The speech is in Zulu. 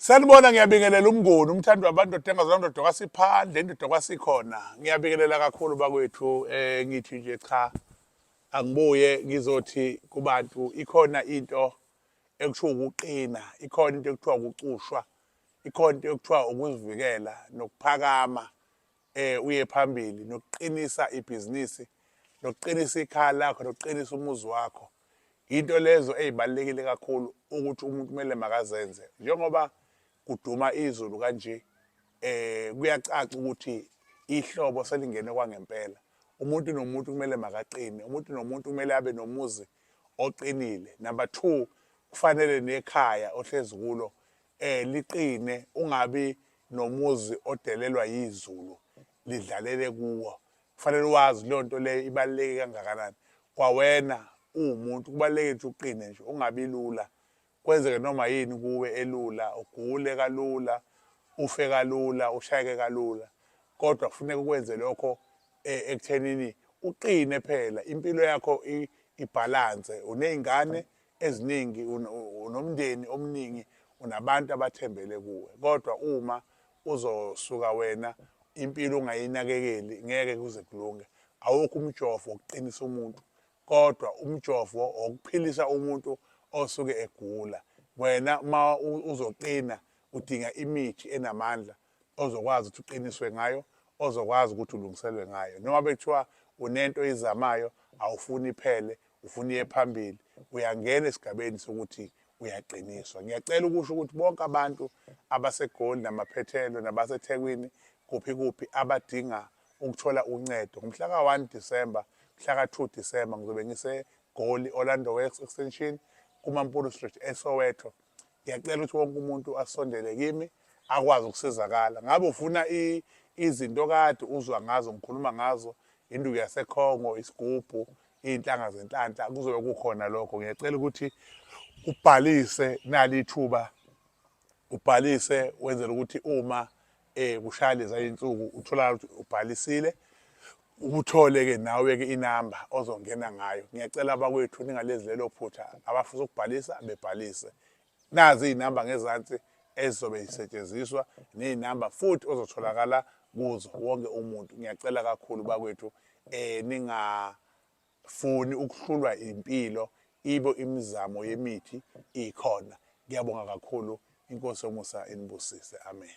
Sanibona ngiyabingelela umngoni umthandi wabantu odenga zona ndoda kwasiphandle indoda kwasikhona ngiyabingelela kakhulu bakwethu eh ngithi nje cha angibuye ngizothi kubantu ikhona into ekuthiwa ukuqina ikhona into ekuthiwa ukucushwa ikhona into ekuthiwa ukuzivikela nokuphakama eh uye phambili nokuqinisa ibhizinisi nokuqinisa ikhaya lakho nokuqinisa umuzi wakho into lezo ezibalekile kakhulu ukuthi umuntu kumele makazenze njengoba kuduma izulu kanje eh kuyacaca ukuthi ihlobo selingene kwangempela umuntu nomuntu kumele makaqine umuntu nomuntu kumele abe nomuzi oqinile number 2 kufanele nekhaya ohlezi kulo eh liqine ungabi nomuzi odelelwa yizulu lidlalele kuwo kufanele wazi leyo nto leyo ibaluleke kangakanani kwawena uwumuntu kubaluleke ukuthi uqine nje ungabi lula kwenzeke noma yini kuwe elula ugule kalula ufe kalula ushayeke kalula kodwa kufuneka ukwenze lokho eh, ekuthenini uqine phela impilo yakho ibhalanse uney'ngane eziningi unomndeni omningi unabantu abathembele kuwe kodwa uma uzosuka wena impilo ungayinakekeli ngeke kuze kulunge awukho umjovo wokuqinisa umuntu kodwa umjovo wokuphilisa umuntu osuke egula wena uma uzoqina udinga imithi enamandla ozokwazi ukuthi uqiniswe ngayo ozokwazi ukuthi ulungiselwe ngayo noma bethiwa unento oyizamayo awufuni iphele ufuna iye phambili uyangena esigabeni sokuthi uyaqiniswa ngiyacela ukusho ukuthi bonke abantu abasegoli namaphethelo nabasethekwini kuphi kuphi abadinga ukuthola uncedo ngomhla ka-1 disemba mhla ka-2 disemba ngizobe ngisegoli orlando west extension kumampuru street esoweto ngiyacela ukuthi wonke umuntu asondele kimi akwazi ukusizakala ngabe ufuna izinto kade uzwa ngazo ngikhuluma ngazo induku yasekhongo isigubhu iy'nhlanga zenhlanhla kuzobe kukhona lokho ngiyacela ukuthi ubhalise nali ithuba ubhalise wenzela ukuthi uma eh kushaya leza insuku uthola ukuthi ubhalisile ubuthole ke nawe ke inamba ozongena ngayo ngiyacela abakwethu ningalezi lelo phutha abafisa ukubhalisa bebhalise nazi izinamba ngezansi ezizobe zisetshenziswa nezinamba futhi ozotholakala kuzo wonke umuntu ngiyacela kakhulu bakwethu eh ningafuni ukuhlulwa impilo ibo imizamo yemithi ikhona ngiyabonga kakhulu inkosi yomusa inibusise amen